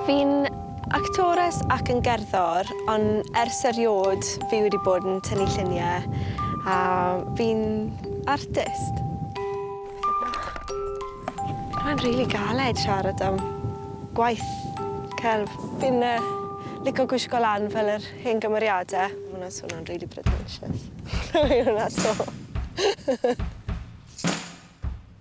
Fi'n actores ac yn gerddor, ond ers eriod fi wedi bod yn tynnu lluniau a fi'n artist. Mae'n rili galed siarad am gwaith celf. Fi'n lico gwisgo lan fel yr hen gymeriadau. Mae hwnna'n swnio'n rili pretentious. Hwnna 'to.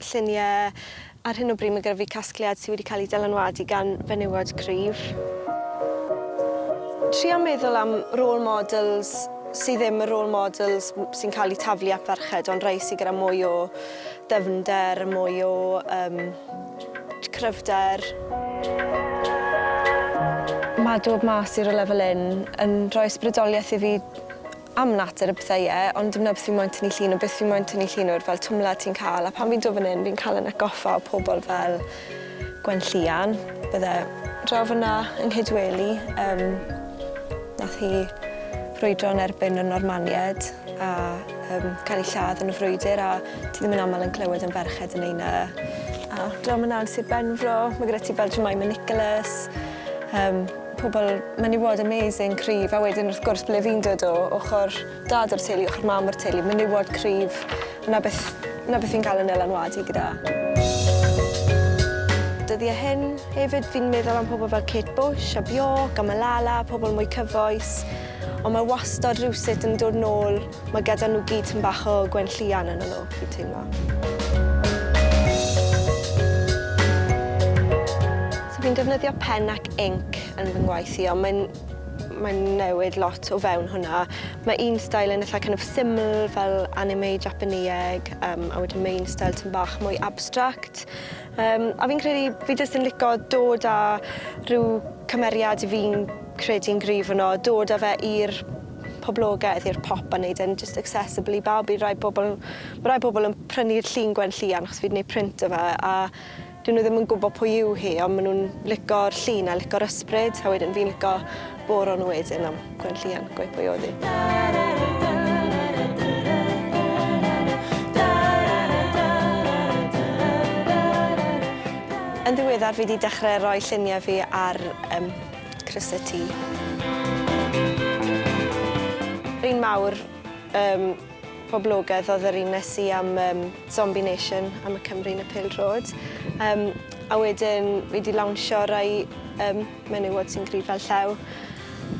lluniau. Ar hyn o bryd mae gyda fi casgliad sydd wedi cael ei dylanwadu gan fenywod cryf. Trio meddwl am role models sydd ddim y role models sy'n cael eu taflu at ferched ond rhai sydd gyda mwy o ddyfnder, mwy o um, cryfder. Mae dod mas i'r lefel un yn rhoi ysbrydoliaeth i fi am natur a pethau ie ond dim 'na beth fi moyn tynnu llun o beth fi moyn tynnu llun o'r fel twmla ti'n ca'l a pan fi'n do fyn 'yn fi'n ca'l 'yn atgoffa o pobol fel Gwenllian bydde draw fyn 'na yng Nghydweli yym nath hi frwydro yn erbyn y Normanied a yym ca'l 'i lladd yn y frwydyr a ti ddim yn amal yn clywed am ferched yn neu' 'na a draw myn 'na yn Sir Benfro ma' gyda ti fel Jemima Nicholas yym Pobl menywod amazing, cryf, a wedyn wrth gwrs ble fi'n dod o, ochr dad o'r teulu, ochr mam o'r teulu, menywod cryf, 'na beth, 'na beth fi'n cael yn nylanwadu gyda. Dyddiau hyn, hefyd fi'n meddwl am pobl fel Kate Bush a Bjork a Malala, pobl mwy cyfoes, ond mae wastod rhywsut yn dod nôl, Mae gyda nhw gyd tym bach o gwenllian yn y nhw, fi'n teimlo. So fi'n defnyddio pen ac inc yn fy ngwaith i, ond mae'n mae'n newid lot o fewn hwnna. Mae un style yn eitha' kind of syml fel anime Japaneeg, um, a wedyn mae un style tym bach mwy abstract. Um, a fi'n credu fi jyst yn lico dod â rhyw cymeriad i fi'n credu'n gryf yno, dod â fe i'r poblogedd i'r pop a neud e'n jyst accessible i bawb i rai pobol ma' rai pobol yn prynu'r llun Gwen Lluan achos fi 'di neud print o fe a 'dyn nw ddim yn gwbo pwy yw hi on' ma' nw'n lico'r llun a lico'r ysbryd a wedyn fi'n lico boro nw wedyn am Gwen Lluan gweu' pwy odd 'i. Yn ddiweddar fi 'di dechre roi llunie fi ar yym Croeso ti. Yr un mawr um, poblogaidd oedd yr un nes i am um, Zombie Nation, am y Cymru yn y Pil Drod. Um, a wedyn fi wedi lawnsio rai um, menywod sy'n gryf fel llew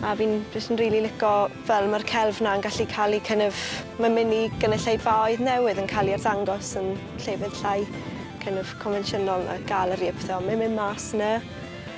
a fi'n just yn rili lico fel mae'r celf na yn gallu cael ei kind of, mae'n mynd i gynulleidfaoedd newydd yn cael ei arddangos yn llefydd llai kind of convensiynol na galeri a pethau, mae'n mynd mas yna.